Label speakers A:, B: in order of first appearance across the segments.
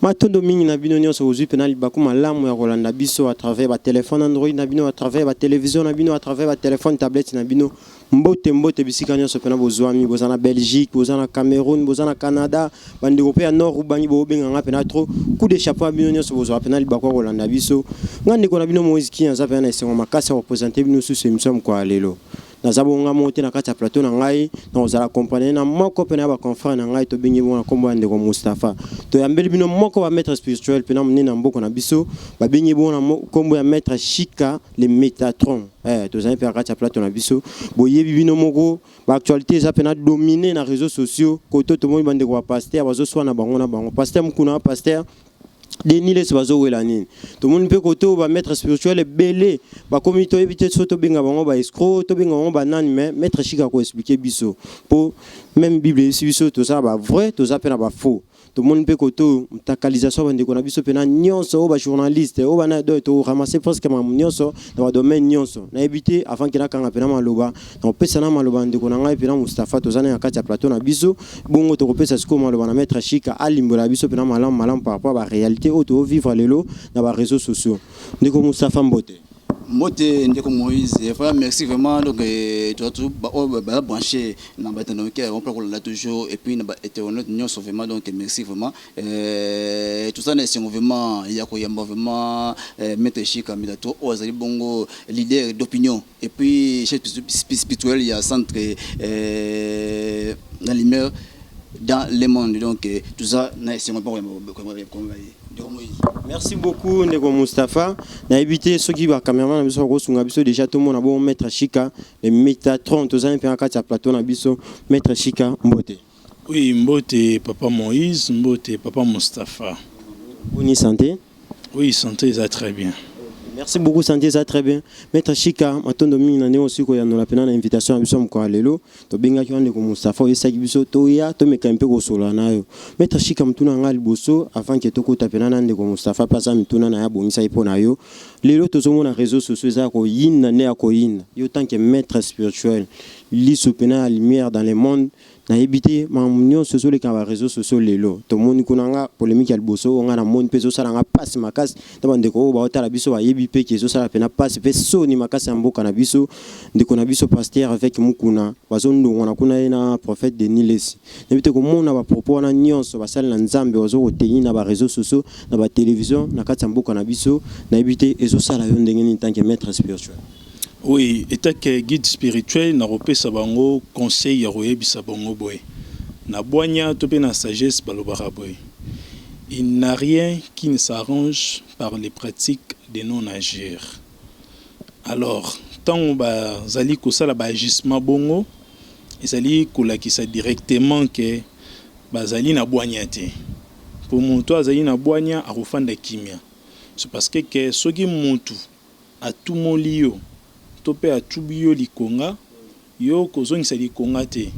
A: matondo mingi na bino nyonso ozwi mpena libaku malamu ya kolanda biso à travers batelefone android na bino à travers batelevizio na bino à travers batelefone tablette na bino mbote mbote bisika nyonso mpena bozwami boza na belgique boza na cameroun boza na canada bandeko mpe ya nord ubangi bobenga nga mpena trop coup de chapeau ya bino nyonso bozwaka mpena libaku ya kolanda biso nga ndeko na bino moise kin aza mpena na esengo makasi ya kopresente bino susu emission ya mokolo ya lelo Naza bongo nga moko te na kati ya plateau na ngai, nako zala accompagner na moko pena ya ba confrères na ngai, to bengi bongo na kombo ya ndeko Mustapha. To yambeli bino moko ba maitres spirituels pena munene ya mboka na biso, ba bengi bongo na kombo ya maitre Shika le Metatron. Eh, to zali pe na kati ya plateau na biso. Bo yebi bino moko, ba actualités eza pena dominer na reseaux sociaux, koto to moni ba ndeko ba pasteurs bazo swana bango na bango. Pasteur Mukuna, pasteur Denis Lessi bazo wela nini? Tomoni mpe kote oyo ba maître spirituel ebele bakomi toyebi te soki tobenga bango ba escroc, tobenga bango ba nani mais maître Chic ako expliquer biso mpo meme Bible eyebisi biso toza ba vrai toza mpe na ba faux. Tomoni mpe kote oyo mutakalisation ya bandeko na biso mpena nyonso oyo ba journaliste oyo bana donc to ramasser presque makambo nyonso na ba domaine nyonso nayebi te avant que nakanga mpena maloba Nakopesa na maloba ya ndeko na ngai mpe na Mustapha toza na kati ya plateau na biso bongo tokopesa sikoyo maloba na maître Shika alimbola biso mpe na malamu malamu par rapport ba réalité oyo to vivre lelo na ba réseaux sociaux ndeko Mustapha Mbote mbote ndeko
B: Moïse vraiment merci vraiment donc eh, tu as tout ba oh, ba branché na ba tano qui on peut la toujours et puis na ba éternel nous sont vraiment donc merci vraiment euh tout ça c'est vraiment il y a quoi vraiment eh, mettre chic à midato aux oh, bongo leader d'opinion et puis chef spirituel ya centre euh, na limeur dans le monde donc euh, toza na esengo mpo koyamba ye
A: merci beaucoup ndeko mustapha nayebi te soki bacameraman na biso bakosunga biso déjà tomona bongo maître chika le métatron tozali mpe na kati ya plateau na biso maître chika mbote Oui mbote
C: papa Moïse mbote papa Mustapha. Boni
A: sante? Oui sante
C: eza très bien. Merci beaucoup
A: Sandy eza très bien. Maître Chica matondo mingi na ndenge osi koyanola mpena na invitation na biso ya mokolo ya lelo. Tobengaki wana ndeko Moustapha oyesaki biso toya tomeka mpe kosolola na yo. Maître Chica motuna ngai liboso avant ke tokota mpena na ndeko Moustapha mpe aza mituna na ye abongisaki mpo na yo. Lelo tozomona réseaux sociaux eza ya koyinda nde ya koyinda. Yo tant que maître spirituel Lisu pena ya lumière dans le monde na yebi te makambo nionso ezo leka na ba reseaux sociaux lelo to moni kuna nga polemique ya liboso oyo nga na moni pe ezo sala nga pasi makasi na ba ndeko oyo bao tala biso ba yebi pe ke ezo sala pena pasi pe soni makasi na mboka na biso ndeko na biso pasteur eveque Mukuna bazo ndongwana kuna ye na prophète Denis lessi na yebi te ko mona ba propos wana nionso ba sali na nzambe ozo ko tenir na ba reseaux sociaux na ba television na kati ya mboka na biso na yebi te ezo sala yo ndenge nini tant que maitre spirituel. Oui
C: etant que guide spirituel na kopesa bango conseil ya koyebisa bango boye na bwanya to pe na sagesse balobaka boye il n'a rien qui ne s'arrange par les pratiques de non agir alors tango bazali kosala ba agissements bongo ezali kolakisa directement que bazali na bwanya te po mutu azali na bwanya akofanda kimia c'est parce que soki mutu atumoli yo to mpe atubi yo likonga, yo kozongisa likonga te,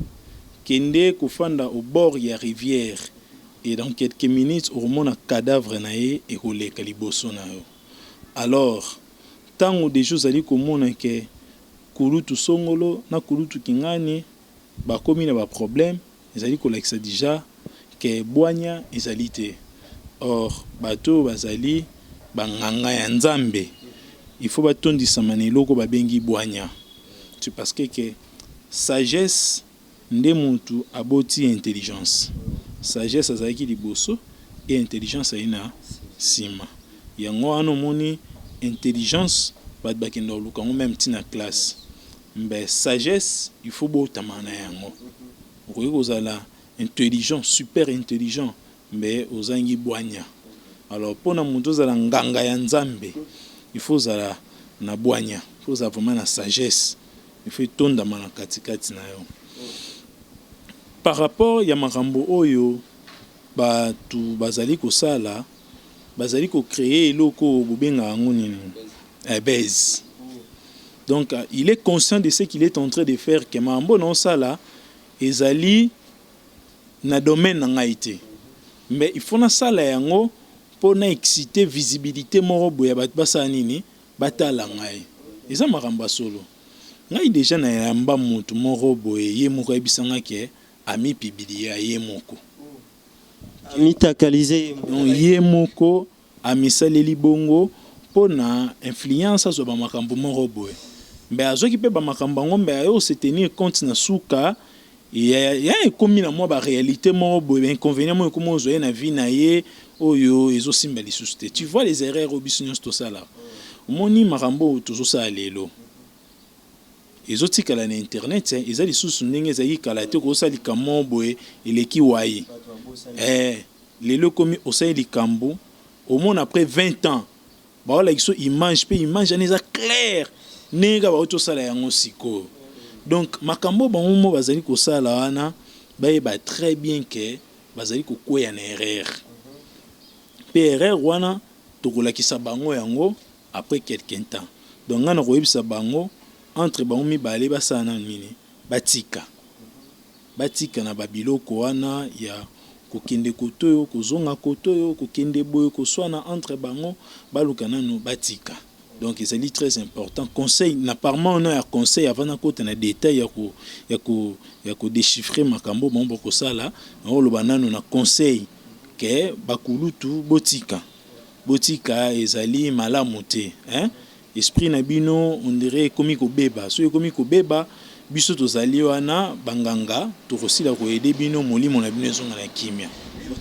C: kende kofanda au bord ya rivière et dans quelques minutes okomona cadavre na ye ekoleka liboso na yo. Alors, tango dejà ozali komona que kulutu Songolo na kulutu Kingani bakomi na ba problèmes, Ezali kolakisa dejà que bwanya ezali te. Or, bato oyo bazali ba nganga ya Nzambe, il faut batondisama na eloko babengi bwanya. C'est parce que que sagesse nde mutu aboti intelligence. Sagesse azalaki liboso et intelligence azali na sima. Yango wana omoni intelligence bato bakenda koluka yango meme ti na classe. Mbe sagesse il faut botama na yango okoki kozala intelligent super intelligent mbe ozangi bwanya alors pona mutu ozala nganga ya nzambe il faut ozala na bwanya il faut ozala vraiment na sagesse il faut etondama na kati kati na yo par rapport ya makambo oyo batu bazali kosala bazali ko creer eloko oyo bobengaka yango nini? Eh, buzz. Donc, il est conscient de ce qu'il est en train de faire que makambo na osala ezali na domaine na ngai te. Mais il faut nasala yango mpo na exciter visibilité moko boye ya bato basala nini? Batala ngai. Eza makambo ya solo. Ngai dejà nayamba moto moko boye ye moko ayebisa ngai que Ami pibiliya ye moko. Ami takalize
A: ye moko. Donc ye moko
C: amisaleli bongo po na influence azwa ba makambo moko boye. Mbe azwaki pe ba makambo yango mbe aye ko se tenir compte na suka ya ekomi na mwa ba realites moko boye ba inconvenients moko ekomi kozwa ye na vie na ye oyo ezo simba lisusu te. Tu vois les erreurs oyo biso nionso tosalaka. Omoni makambo oyo tozo sala lelo. Ezo tikala na internet hein eza lisusu ndenge ezalaki kala te okoki osala likambo moko boye eleki wayi eh lelo ekomi osali likambo omona après 20 ans bao lakisa yo image pe image wana eza claire ndenge kaka bauti osala yango sikoyo donc makambo oyo bango moko bazali kosala wana bayeba très bien que bazali kokweya na erreur pe erreur wana tokolakisa bango yango Après quelquen temps donc nga na koyebisa bango entre bango mibale basala nanu nini batika batika na ba biloko wana ya kokende kotoyo kozonga kotoyo kokende boye koswana entre bango baluka nanu batika donc ezali très important conseil na parment wana ya conseil avant na kota na detail ya ko ya ko ya ko dechiffrer makambo oyo bango bakosala na koloba nanu na conseil que bakulutu botika. Botika ezali malamu te hein. Esprit na bino on dirait ekomi kobeba soki ekomi kobeba biso tozali wana ba nganga tokosila ko aide bino molimo na bino ezonga na kimia.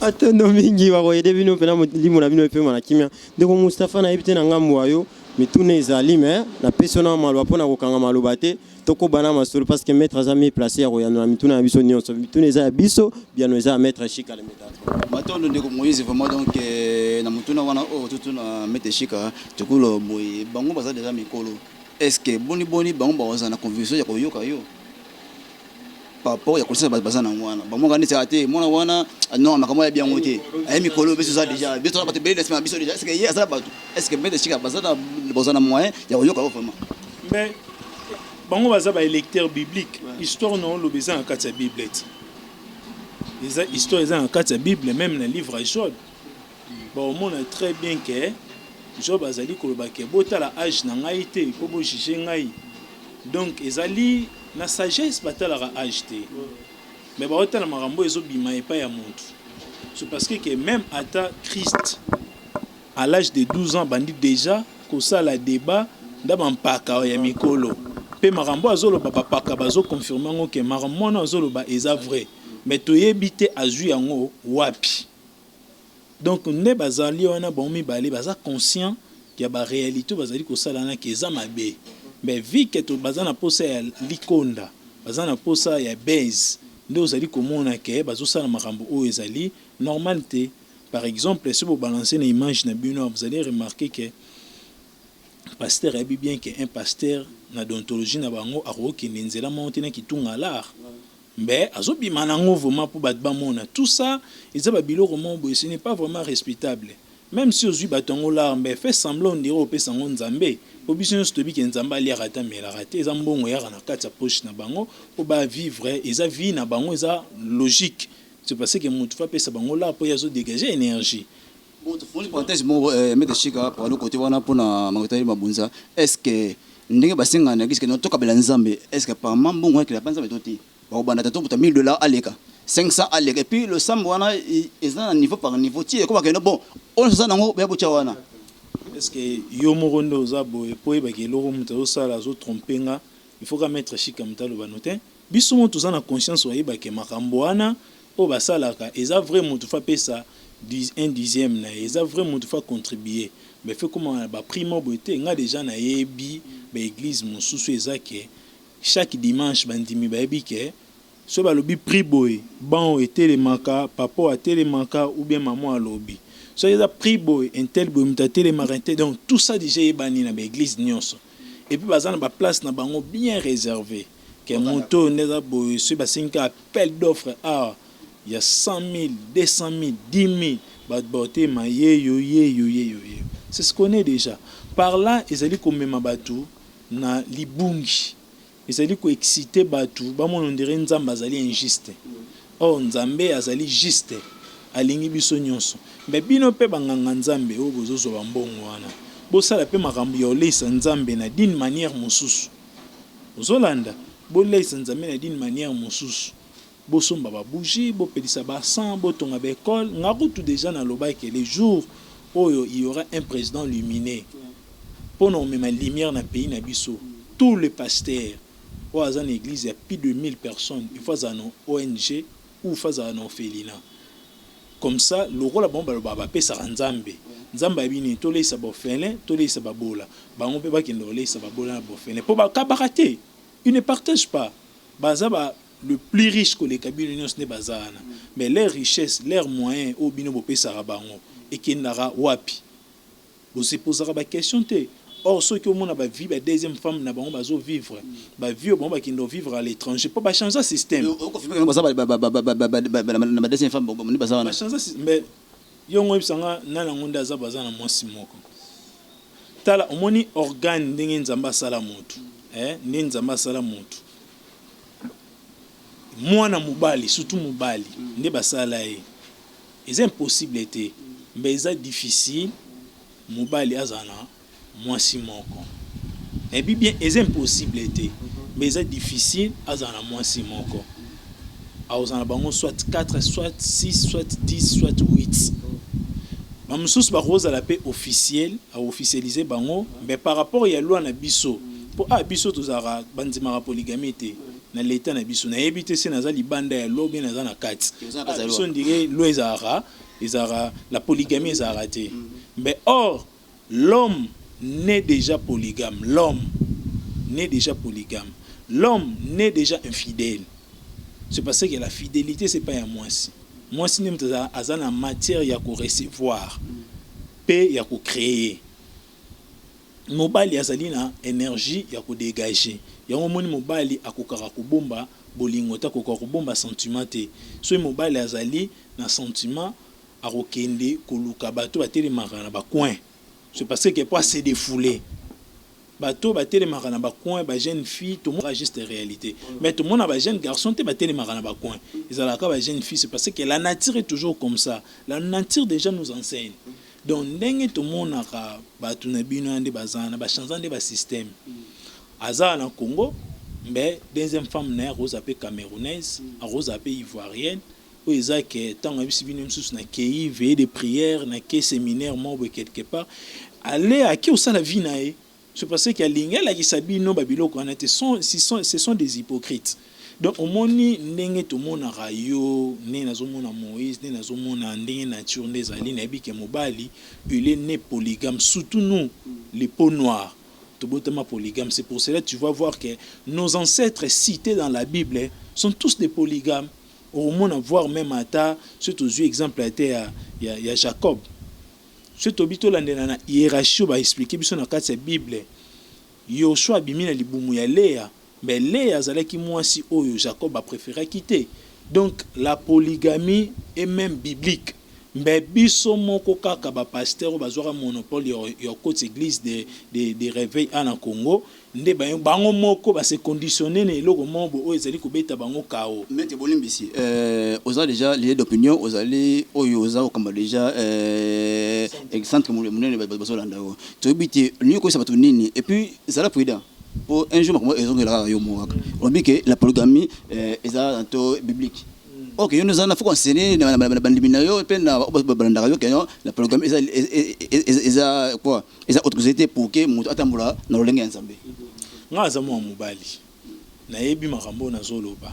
C: Matondo mingi
A: bako aide bino pena molimo na bino epema na kimia. Ndeko Mustapha nayebi te na ngambo ya yo mituna ezali mais napesi yo na maloba pona kokanga maloba te. tokoba na masolo parce que maître aza mieux placé ya koyanola mituna na biso nyonso mituna eza ya biso biyano eza ya maître shika le metal matondo ndeko moïse
B: vraiment donc euh, na motuna wana oyo oh, totuna maître shika tokulo boye bango baza deja mikolo est ce que boni boni bango bakozala na conviction ya koyoka yo par rapport ya conscience bato baza nango wana bango kaka ndeti te mwana wana non makambo ya biango te aye mikolo biso oza déjà biso toza bato ebele na nsima biso déjà estce ye aza bato estce mete chika baza na boza na moyen ya koyoka yo vraiment mais
C: bango baza ba électeur biblique histoire na oloba eza na kati ya bible ti eza histoire eza na kati ya bible même na livre ya jode Bo mona très bien que Job azali koloba que bo tala age na ngai te po bo juger ngai. Donc ezali na sagesse ba talaka age te mais bao tala makambo oyo ezo bima epai ya mutu. C'est parce que que meme ata Christ à l'age de 12 ans abandi dejà ko sala debat na ba mpaka ya mikolo pe makambo oyo azo loba ba mpaka bazo confirmer yango que makambo wana ozo loba eza vrai mais to yebi te azui yango wapi. Donc nde bazali wana bango mibale baza conscient ya ba realite oyo bazali kosala wana que eza mabe mais vu que baza na posa ya likonda baza na posa ya buzz nde ozali komona que bazosala makambo oyo ezali normal te par exemple soki bo balancer na image na bino awa vous allez remarquer que pasteur ayebi bien que un pasteur na deontologie na bango akoki kokende nzela moko te na kitunga lar Mais azo bima nango vraiment po batu ba mona tout ça eza ba biloko moko boye ce n'est pas vraiment respitable meme si ozui batu yango lar mbe fait semblant on dirait opesa yango nzambe po biso nionso toyebi ke nzambe aliaka ata amelaka te eza mbongo eyaka na kati ya poche na bango po ba vivre eza vie na bango eza logique ce passe ke mutu faut apesa bango lar po ye azo degager energie Bon, tofungoli
B: parenthèse moko eh, mete shika pardon côté wana mpo na makotali mabunza est ce que ndenge basengana na eglise kende tokabela nzambe est ce que apparemment mbongo wana kelapa nzambe to te bakobanda tato kuta 1000 dollars aleka 500 aleka et puis losambo wana e- eza na niveau par niveau ti ekoma kende bon oyo nyonso oza nango boya botya wana eske
C: yo moko nde oza boye mpo oyebaki eloko moto azosala azotrompe nga il faut ka mettre shika moto aloba no te Biso moko toza na conscience wayeba ke makambo wana oyo basalaka eza vrai mutu faut apesa un dixième naye eza vrai mutu faut a contribuer mais faut ekoma na ba prix moko boye te nga dejà nayebi ba eglise mususu eza ke chaque dimanche ba ndimi bayebi ke soki balobi prix boye banc oyo etelemaka papa oyo atelemaka ou bien maman oyo alobi soki eza prix boye un tel boye mutu atelemaka un tel donc tout ça dejà eyebani na ba eglise nionso et puis baza na ba place na bango bien reserve. Ke moto oyo nde aza boye soki basengi kaka appel d'offre awa ya 100.000, 200.000, 10.000 bato bakotema yeyo yeyo yeyo yeyo c'est ce qu'on est dejà par là ezali komema bato na libungi ezali ko exciter bato bamona on dirait Nzambe azali injuste or Nzambe azali juste alingi biso nionso mais bino pe ba nganga Nzambe oyo bozozwa ba mbongo wana bosala pe makambo ya koleisa Nzambe na d'une manière mosusu. Ozolanda? Boleisa Nzambe na d'une manière mosusu. Bosomba ba bougies, bopelisa ba cents, botonga ba ecoles. Nga kutu dejà nalobaki que le jour oyo il y aura un president lumineux pona komema lumière na pays na biso, tout le pasteur oyo aza na eglise ya plus de 1000 personnes il faut azala na ONG ou il faut azala na orphelinat. Comme ça lokola bango balobaka bapesaka nzambe, nzambe ayebi nini toleisa ba orphelins, toleisa ba bola, bango pe bakende koleisa ba bola na ba orphelins po bakabaka te, ils ne partagent pas, baza ba le plus riche koleka bino nionso nde baza wana, mais leurs richesses, leurs moyens oyo bino bopesaka bango ekendaka wapi? Bo se posaka ba question te or soki omona ba vie ba deuxième femme na bango bazo vivre ba vie oyo bango bakenda ko vivre à l'etranger po ba changea système. Oko confirmer que
B: yango baza na ba deuxième femme nde baza wana. Ba changea système mais
C: yo yango oyebisa nga nani yango nde aza baza na mwasi moko tala omoni organe ndenge nzambe asala mutu eh ndenge nzambe asala mutu mwana mobali surtout mobali nde basala ye. eza impossible te mais eza difficile mobali azala na mwasi moko nayebi bien eza impossible te mais eza difficile azala na mwasi moko akozala na bango soit 4 soit 6 soit 10 soit 8 bamosusu bakozala mpe officiel aofficialise bango mais par rapport ya loi na biso mpo a ah, biso tozalaka bandimaka polygamie te na l'etat na biso nayebi te se naza libanda ya loi ou bien naza na kati na biso ondire loi ezalaka ezalaka la polygamie ezalaka te mais or l'homme ne dejà polygame l'homme ne dejà polygame l'homme ne dejà infidèle c'est parce que la fidelite c'est pas ya mwasi mwasi nde moto aza na matière ya ko recevoir pe ya ko creer Mobali azali na energie ya ko degager yango omoni mobali akokaka kobomba bolingo te akokoka kobomba sentiment te soki mobali azali na sentiment akokende koluka bato batelemaka na ba coin ce parce que po a se defouler bato batelemaka na ba coin ba jeune fille tomonaka juste realite mais tomona ba jeune garçon te batelemaka na ba coin ezalaka ba jeune fille ce parce que la nature est toujours comme ça la nature dejà nous enseigne Donc ndenge tomonaka batu na bino wana nde baza wana ba chanza nde ba système aza awa na Congo mbe deuxième femme naye akozala pe camerounaise akozala pe ivoirienne oyo eza ke tango nayebisi bino misusu na keyi veille de prière na ke seminaire moko boye quelque part aller ake kosala vie naye Ce parce que alingi alakisa bino ba biloko wana te ce sont des hypocrites donc omoni ndenge tomonaka yo ndenge nazomona moise ndenge nazomona ndenge nature nde ezali nayebi ke mobali il est ne polygame surtout nous les peaux noires tobotama polygame c'est pour cela tu vas voir que nos ancetres cites dans la bible sont tous des polygames okomona voir meme ata soki tozwi exemple ata ya, ya, ya jacob Soki tolobi tolandela na hierarchie oyo ba expliquer biso na kati ya bible, Yoshua abimi na libumu ya Lea, mais Lea azalaki muasi oyo Jacob a preferaki te. Donc la polygamie est meme biblique mais biso moko kaka ba pasteurs oyo bazuaka monopole ya kokotisa eglise de reveil awa na Congo, Nde baye bango moko ba se conditionner na eloko moko boye oyo ezali kobeta bango chaos. Maitre bolimbisi
B: eh, oza dejà leader d'opinion, ozali oyo oza kokamba dejà eh, centre munene batu bazolanda yo, toyebi te olingi koyebisa batu nini? Et puis zala prudent po un jour makambo ezongela kaka yo moko kaka, olobi que la polygamie eh, eza to biblique or que yo nde oza na faut ko enseigner na bandimi na yo pe na oyo balandaka yo que non la polygamie eza eza quoi? eza autorisé te pour que moto atambola na lolenge ya Nzambe. Nga aza mwana
C: mobali nayebi makambo oyo nazoloba,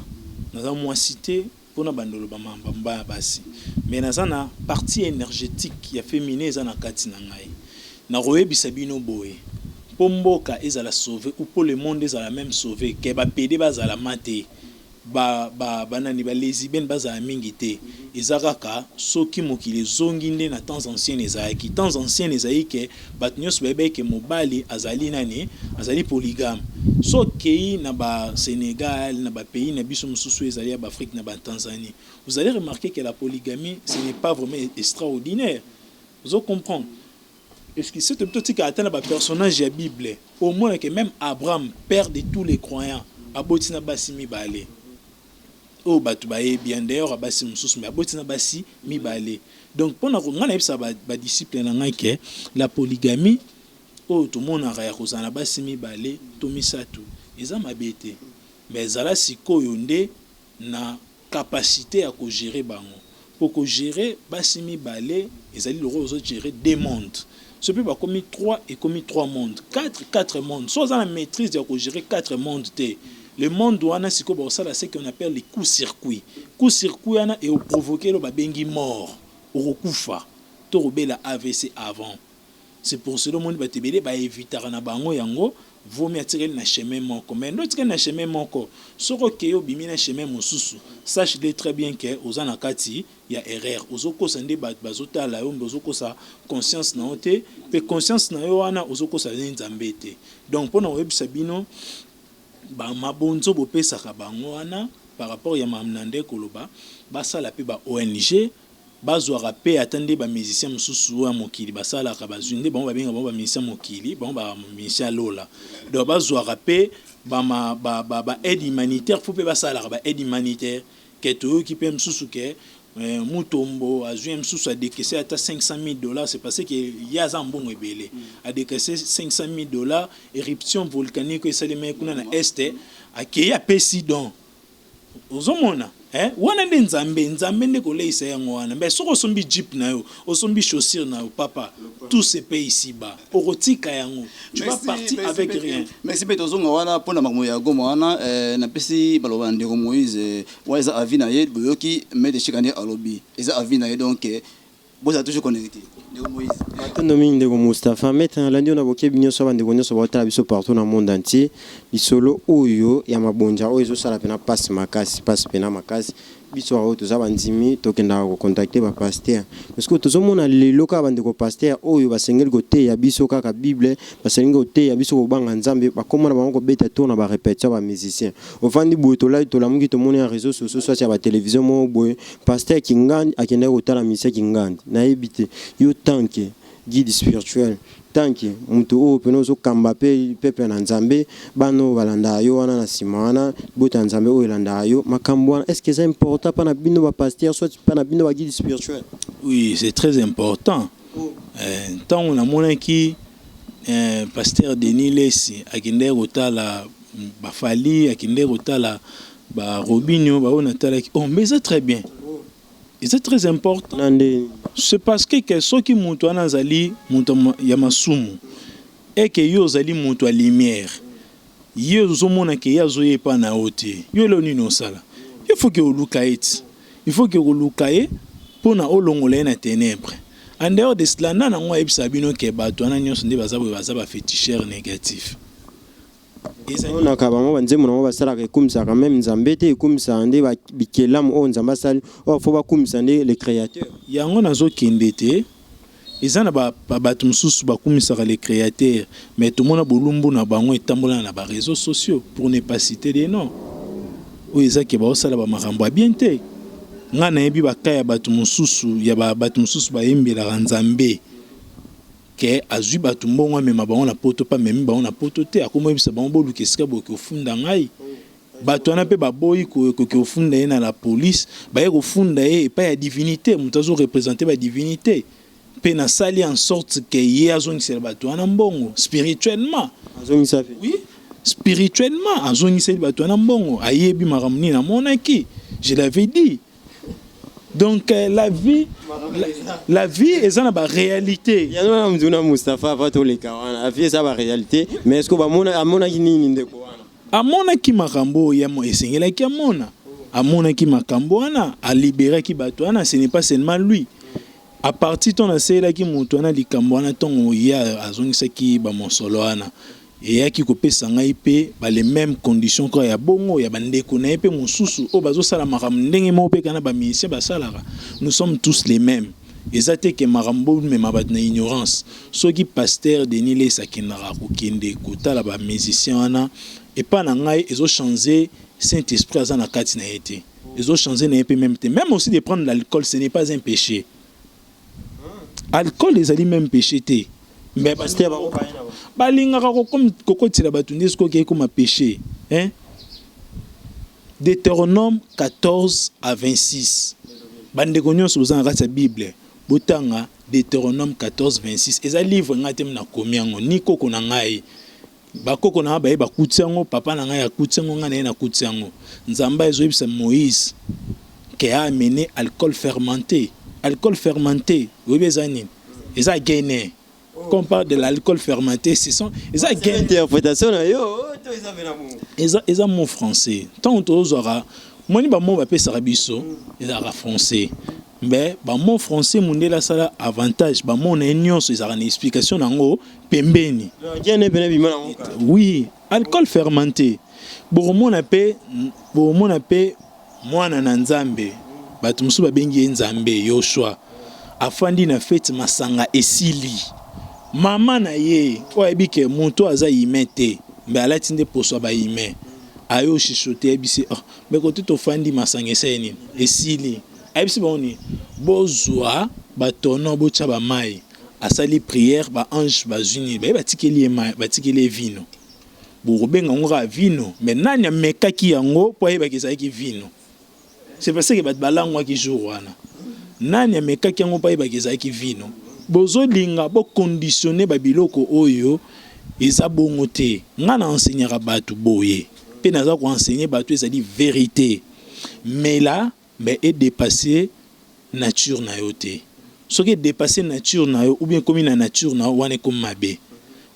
C: naza mwasi te pona bandolo ba mamba mba ya basi mais naza na partie energetique ya feminin eza na kati na ngai nakoyebisa bino boye mpo mboka ezala sauve ou mpo le monde ezala meme sauve ke ba pede bazala mate Ba ba ba nani ba lezibene bazala mingi te eza kaka soki mokili ezongi nde na temps ancienne ezalaki temps ancienne ezali ke batu nionso bayebaki ke mobali azali nani azali polygame soki okeyi na ba Senegal na ba pays na biso mosusu oyo ezali ya ba Afrique na ba Tanzanie vous allez remarquer ke la polygamie ce n'est pas vraiment extraordinaire ozo comprendre. Eskise toyebi totika ata na ba personnage ya bible omona ke meme Abraham père de tous les croyants aboti na basi mibale oyo bato bayebi ya ndeyora basi mosusu me aboti na basi mibale donc mpo na konga nayebisa badisciple na ngai ke la polygamie oyo tomonaka ya kozala na basi mibale to misato eza mabe te me ezala sikoyo nde na capacite ya ko gerer bango po ko gerer basi mibale ezali lokola ozo gerer deux mondes soki pe bakomi trois ekomi trois mondes quatre quatre mondes soki oza na maitrise ya ko gerer quatre mondes te le monde wana sikoyo bakosala ce qu'on appelle le coup circuit coup circuit wana eko provoquer eloko babengi mort okokufa to kobela avc avant C'est pour cela omoni batu ebele ba evitaka na bango yango vaut mieux atikali na chemin moko mais nde otikali na chemin moko soki okeyi obimi na chemin mosusu sache le très bien que oza na kati ya erreur ozo kosa nde batu bazo tala yo mais ozo kosa conscience na yo te pe conscience na yo wana ozo kosa nde Nzambe te donc pona ko yebisa bino ba mabonzo bo pesaka bango wana par rapport ya mamnande koloba ba sala pe ba ong Bazwaka pe ata nde ba musiciens mususu oyo ya mokili basalaka bazwi nde bango babenga bango ba musiciens ya mokili bango ba musiciens ya lola donc bazwaka pe ba ma ba ba ba aide humanitaire faut pe basalaka ba aide humanitaire ke toyoki pe mususu ke Mutombo azwi mususu a decaisser ata 500000 dollars c'est parce que ye aza na mbongo ebele a decaisser 500000 dollars eruption volcanique oyo esalemaki kuna na Est akeyi apesi donc Ozo mona eh wana nde nzambe nzambe nde ko leyisa ye yango wana mais soki osombi jeep na yo osombi chaussure na yo papa tout se paie ici bas oko tika yango tu vas partir avec rien. Merci pe tozonga wana
B: pona makambo ya goma wana eh na pesi maloba na ndeko moise wana eza avis na ye boyoki maitre chikande alobi eza avis na ye donc Bozala toujours connecte. Ndeko Moïse. Matondo
A: mingi ndeko Mustapha. Maître na landi yo na bokebi nioso ba ndeko nioso bao tala biso partout na monde entier. Lisolo oyo ya mabonja oyo ezo sala pena pasi makasi, pasi pena makasi. Biso ba oyo toza ba ndimi to kendaka ko contacter ba pasteurs. Mais sikoyo tozo mona lelo kaka ba ndeko pasteurs oyo ba sengeli ko teya biso kaka bible, ba sengeli ko teya biso ko banga Nzambe, ba koma na bango ko beta tour na ba repetitions ya ba musiciens. Ofandi boye tolali tolamuki tomoni ya reseaux sociaux soit ya ba televisions moko boye Pasteur kingandi akendaki kotala musicien kingandi nayebi te yo tant que guide spirituel tant que mutu oyo pena ozo kamba pe peuple na nzambe bana oyo balandaka yo wana na sima wana libota ya nzambe oyo elandaka yo makambu wana est ce que eza important pa na bino ba pasteur soit pa na bino ba guide spirituel oui c'est très
C: important eh, ntango namonaki eh, pasteur denis lesi akendaki kotala bafali akendaki kotala Ba robinio ba oyo na talaki oh mais eza très bien eza très important na nde c'est parce que que soki mutu wana azali mutu ya masumu et que yo ozali mutu ya lumière ye ozo mona que ye azo ya epa na yo te yo eloko nini osala il faut que oluka ye ti il faut que koluka ye pona olongola ye na tenèbres en dehors de cela nani ango ayebisaka bino que batu wana nionso nde baza boye baza ba feticheurs negatifs.
A: emonaka bango banzembo na bango basalaka ekumisaka meme nzambe te ekumisaka nde bikelamu oyo nzambe asali oyo fo bakumisa nde le créateur yango nazokende
C: te eza na bato mosusu bakumisaka le créateur mais tomona bolumbu na bango etambolana na bareseau sociaux pour ne pas citer de nom oyo eza ke baosala bamakambo ya bien te ngai nayebi baka ya bato mosusu ya bato mosusu bayembelaka nzambe que azui batu mbongo amema bango na poto pe amemi bango na poto te akomi oyebisa bango boluka esika boke ofunda ngai bato wana mpe baboyi koke kofunda ye na la police baye kofunda ye epai ya divinité moto azo represente ba divinité mpe nasali en sorte ke ye azongisela bato wana mbongo spirituellement azongisa oui spirituellement azongiseli bato wana mbongo ayebi makambo nini amonaki je l'avais dit donc euh, la vie la, la vie eza na baréalité yango wana motu na
A: mustapha ava toleka wana la vie eza baréalité mais estce amonaki nini ndeko wana amonaki makambo
C: oyo esengelaki amona amonaki makambo wana aliberaki bato wana ce n'est pas seulement lui à partir ntango nasalelaki moto wana likambo wana ntango ye azongisaki bamosolo wana Eyaki kopesa ngai pe ba les memes conditions kaka ya bongo ya ba ndeko na ye pe mosusu oyo bazo sala makambo ndenge moko pe ka na ba musiciens ba salaka nous sommes tous les memes eza te ke makambo bo mema batu na ignorance soki pasteur Denis lessi akendaka ko kende ko tala ba musiciens wana epa na ngai ezo chanze saint esprit aza na kati na ye te ezo chanze na ye pe meme te meme aussi de prendre l'alcool ce n'est pas un peche Alcool ezali meme peche te mais balingaka kokotela bato nde soki oke ekoma peche hein Deuteronome 14 à 26 ba ndeko nionso boza na kati ya bible botanga Deuteronome 14 26 eza livre ngai te nakomi yango ni koko na ngai Bakoko na nga baye bakuti yango, papa na ngai akuti yango, ngai na ye nakuti yango. Nzamba ezoyebisa Moïse que a amene alcool fermente. Alcool fermente, oyebi eza nini? Eza gene. Quand on parle de l'alcool fermenté, ce sont eza gene. Interprétation na yo,
A: to eza vena mo. Eza
C: eza mot français. Tant tozozwaka moni ba mot bapesaka biso ezalaka français. Mais ba mots français mundele asala avantage ba mots na ye nionso ezalaka na explication na yango pembeni. Gene pene ebima na yango kala. Oui, alcool fermente. Bokomona pe bokomona pe mwana na Nzambe batu mosusu babengi ye Nzambe Yoshua afandi na feti masanga esili mama na ye oyo ayebi ke moto aza humain te mbe alati nde poso ya ba humain ayo shishote yebisi oh, mbe kote tofandi masanga esali nini esili Ayebisi bango nini? Bozwa ba tonneaux botya ba mayi. Asali prière, ba anges bazwi nini? Baye batikeli ye mayi, batikeli ye vino. Bokobenga yango kaka vino, mais nani amekaki yango mpo ayebaki ezalaki vino? C'est parce que bato balangwaki jour wana. Nani amekaki yango mpo ayebaki ezalaki vino? Bozolinga bo conditionner ba biloko oyo eza bongo te. Ngai na enseignaka bato boye mpe naza ko enseigner bato ezali verite. Mela. Mais e depasser nature na yo te. Soki e depasser nature na yo ou bien ekomi na nature na yo wana ekomi mabe.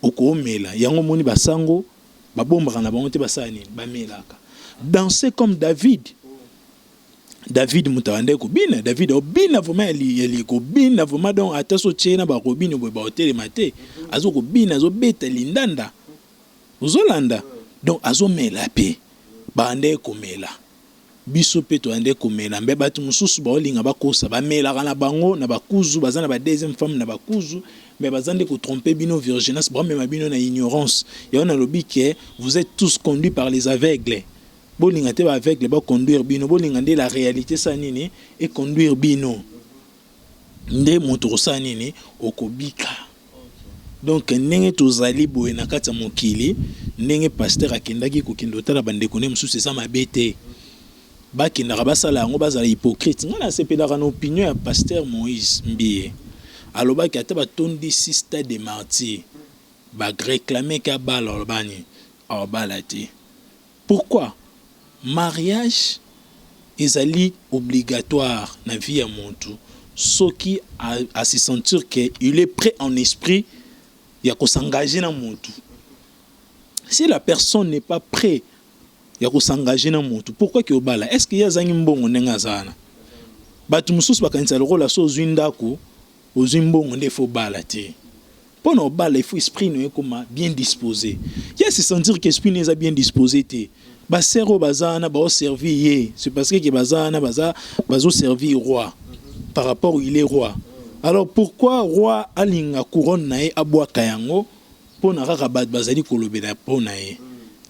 C: Oko mela. Yango omoni ba sango ba bombaka na bango te ba sala nini? Ba melaka. Danser comme David. David moto abandaki ko bina, David ako bina vraiment ya li ko bina vraiment donc ata soki otie ye na ba robinho boye bako telema te. Azo ko bina azo beta lindanda. Ozo landa? Donc azo mela pe. Ba bandaki ko mela. Biso pe toza nde komela mais batu mususu bao linga ba kosa ba melaka na bango na ba kuzu baza na ba deuxième femme na ba kuzu mais baza nde ko trompe bino virginas bao mema bino na ignorance yango na lobi que vous etes tous conduit par les aveugles bolinga te ba aveugles ba conduire bino bolinga nde la realite esala nini e conduire bino Nde moto okosala nini? Okobika. Donc ndenge tozali boye na kati ya mokili, ndenge pasteur akendaki kokende otala bandeko ne mosusu eza mabe te. Bakendaka basala yango bazala hypocrite. Ngai nasepelaka na opinion ya pasteur Moïse Mbiye. Alobaki ata batondisi stade de martyrs ba reclamer ke abala olobani aobala te. Pourquoi mariage ezali obligatoire na vie ya mutu soki a se sentir que il est pret en esprit ya ko s'engager na mutu? Si la personne n'est pas pret ya ko s'engager na mutu pourquoi que obala? Est ce que ye azangi mbongo ndenge aza wana? Batu mususu ba kanisa lokola soki ozui ndaku ozui mbongo nde il faut obala te. Pona obala il faut esprit no ekoma bien dispose. Ye a se sentir que esprit no eza bien dispose te. Ba sœurs oyo baza wana bao servir ye c'est parce que baza wana baza bazo servir roi par rapport il est roi. Alors pourquoi roi alinga couronne na ye abwaka yango pona kaka batu bazali kolobela pona ye?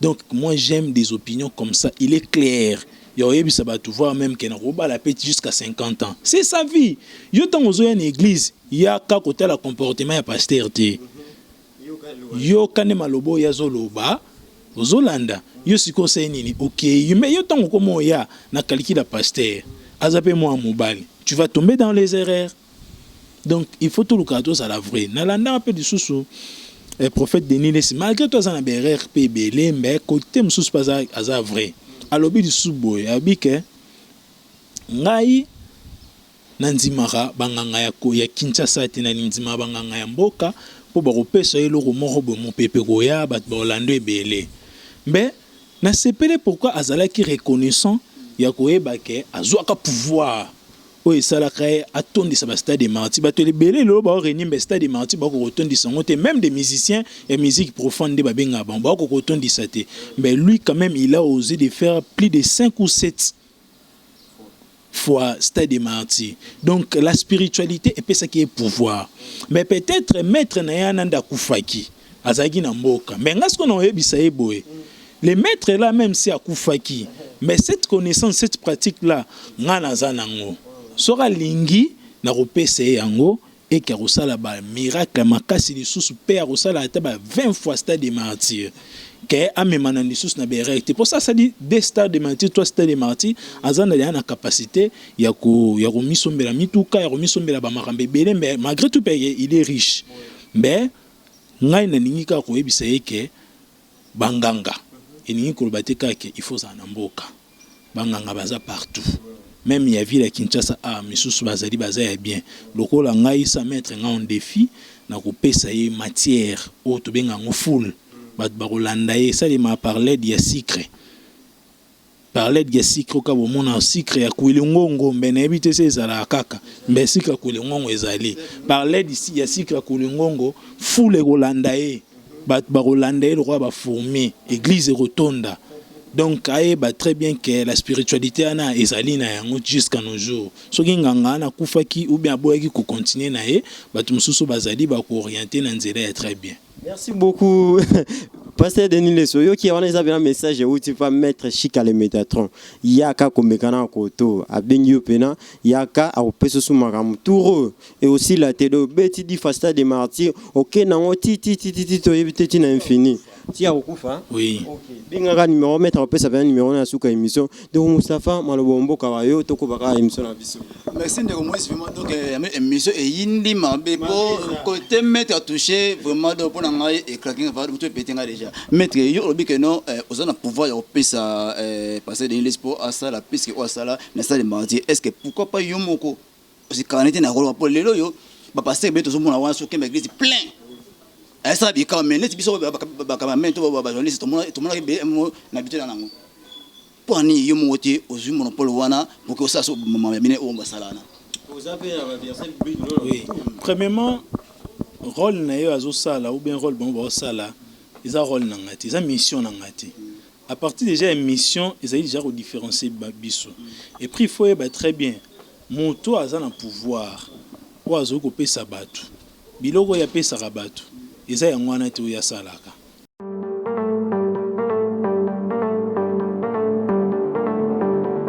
C: Donc moi j'aime des opinions comme ça il est claire ya oyebisa batu voir meme que nakobala pe jusqu'à 50 ans c'est sa vie. Yo tango ozoya na eglise. Yaka kotala comportement ya pasteur te yoka nde maloba oyo azo loba ozolanda yo sikoyo osali nini okeyi mais yo tango okoma oya na calcul ya pasteur aza pe mwana mobali tu vas tomber dans les erreurs donc il faut tolukaka tozala vrai nalandaka pe lisusu eh, prophète Denis Lessi malgré toi aza na ba erreur pe ebele mais kote mosusu pe aza, aza vrai alobi lisusu boye alobi ke ngai Na ndimaka ba nganga ya ko ya Kinshasa te, na ndimaka ba nganga ya mboka po ba ko pesa yo eloko moko boye mopepe ekoya batu bako landa yo ebele mais na sepele pourquoi azalaki reconnaissant ya ko yeba ke azuaka pouvoir oyo esalaka ye atondisa ba stade de martyrs batu ebele lelo bao regner mais stade de martyrs bako ko tondisa yango te meme des musiciens ya musique profane nde ba bengaka bango bako ko tondisa te mais lui quand meme il a ose de faire plus de 5 ou 7 fois stade de marti donc la spiritualité epesaki ye pouvoir mais peut-être maître na ye ananda akufaki azalaki na mboka mais nga sikoyo nakoyebisa ye boye le maître là même si akufaki mais cette connaissance cette pratique là nga naza nango soki alingi nakopesa ye yango et que akosala ba miracle ya makasi lisusu pe akosala ata ba 20 fois stade de martyr que amema na lisusu na berec te posa asali de stade de martyr toi stade de martyr aza na ya na capacité ya ko ya komisombela mituka ya komisombela ba makambo ebele mais malgré tout pe il est riche mais ngai nalingi kaka koyebisa ye ke banganga elingi koloba te kaka ke il faut ozala na mboka Ba nganga baza partout meme ya ville ya Kinshasa awa misusu bazali baza ya bien lokola ngai sans mettre ngai en defie na kopesa ye matière oyo tobenga yango foule bato bakolanda ye esalema par l'aide ya sucre par l'aide ya sucre oka bomona sucre ya kuilingongo mbe nayebi te se ezalaka kaka mbe sucre ya kuilingongo ezali par l'aide ya sucre ya kuilingongo foule ekolanda ye Batu bakolanda ye lokola ba fourmis, eglise ekotonda. Donc ayeba très bien que la spiritualite wana ezali na yango jusqu'à nos jours. Soki nganga wana akufaki ou bien aboyaki ko continuer na ye, batu mosusu bazali ba ko orienter na nzela ya très bien. Merci beaucoup
A: Pasteur Denis Lessie oyoki wana eza pena message euti pa maître Chica le Metatron yaka komeka na koto abengi yo pena yaka akopesa osu makambo turo Eosila te do beti di fasta de martyr oke nango ti ti ti ti ti toyebi te ti na infini ti akokufa oui okay.
C: bengaka
A: numero maître akopesa pena numero na suka emission donc Mustapha malobo mboka wa yo tokoba kaka emission na biso merci ndeko Moïse
B: vraiment donc euh, emission eyindi mabe po côté maître touché vraiment donc pona ngai ekraki ngai mutu epete ngai déjà maître yo olobi que non euh, oza na pouvoir ya kopesa euh, passer de l'esport asala puisque oyo asala na salle de martyr est ce que pourquoi pas yo moko Sikana te na koloba po lelo oyo ba pasteur bete tozomona wana soki okemba eglise plein ayesala eh, bikama me neti biso bakamame to bajournaliste tomonaki bmo na bitela nango mpo ani yo moko te ozwi monopole wana moke osala so mama ya bine oyo basalana
A: premièrement
C: role na ye azosala ou bien role bango baosala eza role na ngai te eza mission na ngai te A partir dejà ya mission ezali dejà ko differencie biso et puis il faut oyeba très bien moto oyo aza na pouvoir oyo azoki kopesa batu biloko oyo apesaka batu eza yango wana te oyo asalaka.